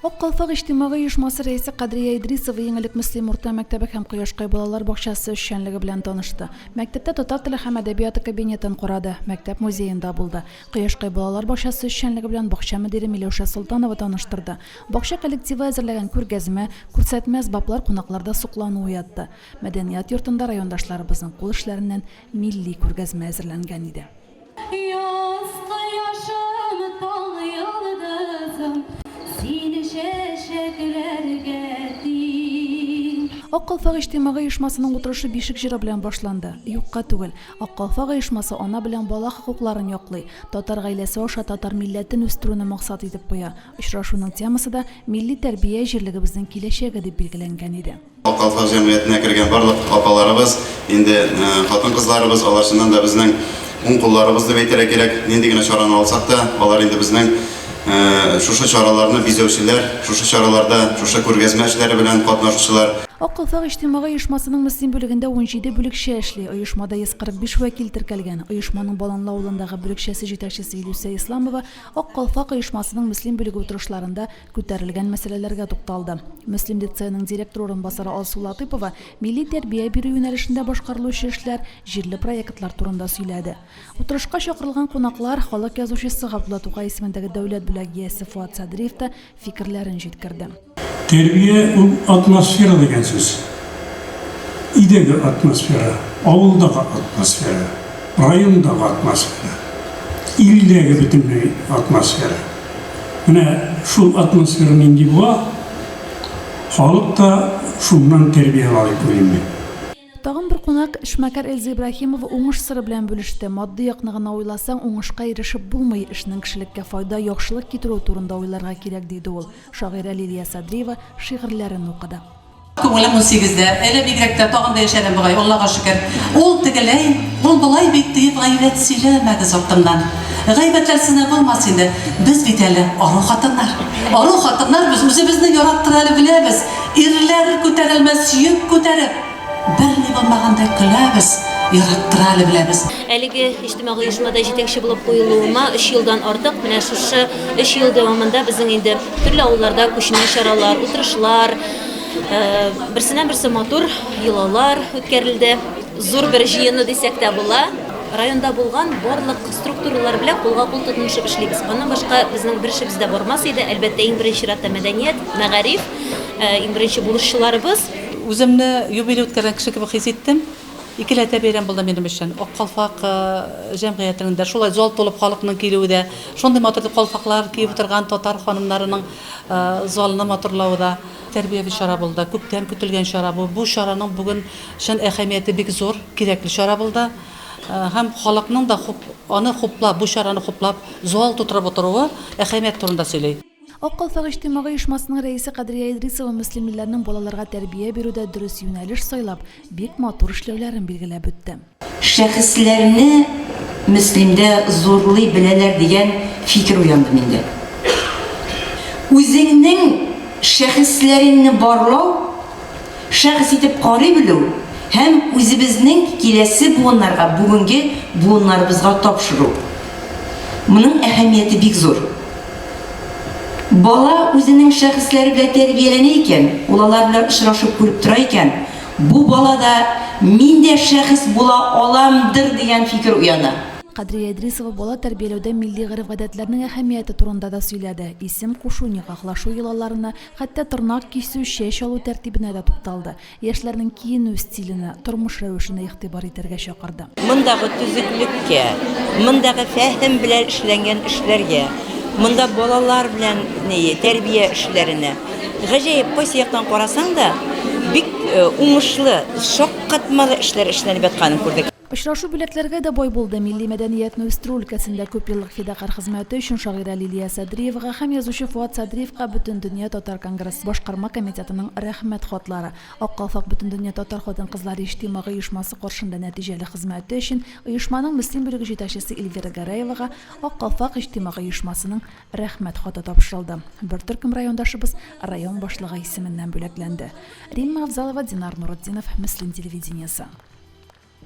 Ак калфак иҗтимагый оешмасы рәисе Кадрия Идрисова иң элек Мөслим урта мәктәбе һәм Кояшкай балалар бакчасы эшчәнлеге белән танышты. Мәктәптә татар теле һәм әдәбияты кабинетын корады, мәктәп музеенда булды. Кояшкай балалар бакчасы эшчәнлеге белән бакча мөдире Миләүшә Солтанова таныштырды. Бакча коллективы әзерләгән күргәзмә, күрсәтмә, әсбаплар кунакларда соклану уятты. Мәдәният йортында райондашларыбызның кул эшләреннән милли күргәзмә әзерләнгән иде. Яз кояшым, таң йолдызым, син чәчәкләргә тиң. Ак калфак иҗтимагый оешмасының утырышы Бишек җыры белән башланды. Юкка түгел. Ак калфак оешмасы ана белән бала хокукларын яклый, татар гаиләсе аша татар милләтен үстерүне максат итеп куя. Очрашуның темасы да Милли тәрбия, җирлегебезнең киләчәге дип билгеләнгән иде. Калфак җәмгыятенә кергән барлык апаларыбыз, инде хатын-кызларыбыз, алар чыннан да безнең уң кулларыбыз дип әйтергә кирәк. Нинди генә чараны алсак та, алар инде безнең шушы чараларны бизәүчеләр, шушы чараларда, шушы күргәзмә эшләре белән катнашучылар. Ак калфак иҗтимагый оешмасының Мөслим бүлегендә унҗиде бүлекчә эшли. Оешмада 145 вәкил теркәлгән. Оешманың Баланлы авылындагы бүлекчәсе җитәкчесе Илүсә Исламова Ак калфак оешмасының Мөслим бүлеге утырышларында күтәрелгән мәсьәләләргә тукталды. Мөслим лицееның директор урынбасары Алсу Латыйпова милли тәрбия бирү юнәлешендә башкарылучы эшләр, җирле проектлар турында сөйләде. Утырышка чакырылган кунаклар, халык язучысы Габдулла Тукай исемендәге дәүләт бүләк иясе Фоат Садриев та фикерләрен җиткерде. Тәрбия ул атмосфера дигән сүз. Өйдәге атмосфера, авылдагы атмосфера, райондагы атмосфера, илдәге бөтенләй атмосфера. Менә шул атмосфера нинди була, халык та шуннан тәрбия алып уйлый. Тагын бер кунак, эшмәкәр Эльза Ибраһимова уңыш сыры белән бүлеште. Матди якны гына уйласаң, уңышка ирешеп булмый, эшнең кешелеккә файда, яхшылык китерүе турында уйларга кирәк, диде ул. Шагыйрә Лилия Садриева шигырьләрен укыды. Күңелем унсигездә, әле бигрәк тә тагын да яшәрен бугай, Аллага шөкер. Ул тегеләй, ул болай бит, диеп гайбәт сөйләмәгез артымнан. Гайбәтләрсез дә булмас инде. Без бит әле ару хатыннар. Ару хатыннар без, үзебезне яраттырга әле беләбез. Ирләр күтәрелмәс йөк күтәреп, берни булмагандай көләбез, яраттыра әле беләбез. Әлеге иҗтимагый оешмада җитәкче булып куелуыма өч елдан артык. Менә шушы өч ел дәвамында безнең инде төрле авылларда күчмә чаралар, утырышлар, берсеннән-берсе матур йолалар үткәрелде. Зур бер җыены дисәк тә була. Районда булган барлык структуралар белән кулга-кул тотынышып эшлибез. Аннан башка безнең бер эшебез дә бармас иде. Әлбәттә, иң беренче чиратта мәдәният, мәгариф. Иң беренче бурыччыларыбыз. Үземне юбилей үткәргән кеше кебек хис иттем. Икеләтә бәйрәм булды минем өчен. Ак калфак җәмгыятенең дә, шулай зал тулып халыкның килүе дә, шундый матур итеп калфаклар киеп утырган татар ханымнарының залны матурлавы да тәрбияви чара булды. Күптән көтелгән чара бу. Бу чараның бүген чын әһәмияте бик зур, кирәкле чара булды. Һәм халыкның да аны хуплап, бу чараны хуплап, зал тутырып утыруы әһәмият турында сөйли. Ак калфак иҗтимагый оешмасының рәисе Кадрия Идрисова мөслимлеләрнең балаларга тәрбия бирүдә дөрес юнәлеш сайлап, бик матур эшләүләрен билгеләп үтте. Шәхесләрне мөслимдә зурлый беләләр дигән фикер уянды миндә. Үзеңнең шәхесләреңне барлау, шәхес итеп карый белү һәм үзебезнең киләсе буыннарга, бүгенге буыннарыбызга тапшыру. Моның әһәмияте бик зур. Бала үзенең шәхесләре белән тәрбияләнә икән, ул алар белән очрашып күреп тора икән, бу балада мин дә шәхес була аламдыр дигән фикер уяна. Кадрия Идрисова бала тәрбияләүдә милли гореф-гадәтләрнең әһәмияте турында да сөйләде, исем кушу, никахлашу йолаларына, хәтта тырнак кисү, чәч алу тәртибенә дә тукталды. Яшьләрнең киенү стиленә, тормыш рәвешенә игътибар итәргә чакырды. Мондагы төзеклеккә, мондагы фәһем белән эшләнгән эшләргә, монда балалар белән тәрбия эшләренә, гаҗәеп, кайсы яктан карасаң да, бик уңышлы, шаккатмалы эшләр эшләнеп ятканын күрдек. Очрашу бүләкләргә дә бай булды. Милли мәдәниятне үстерү өлкәсендә күпьеллык фидакарь хезмәте өчен шагыйрә Лилия Садриевага һәм язучы Фоат Садриевка Бөтендөнья татар конгрессы башкарма комитетының Рәхмәт хатлары, Ак калфак Бөтендөнья татар хатын-кызлары иҗтимагый оешмасы каршында нәтиҗәле хезмәте өчен оешманың Мөслим бүлеге җитәкчесе Эльвира Гәрәевага Ак калфак иҗтимагый оешмасының Рәхмәт хаты тапшырылды. Бер төркем райондашыбыз район башлыгы исеменнән бүләкләнде. Римма Авзалова, Динар Нуретдинов, Мөслим телевидениесе.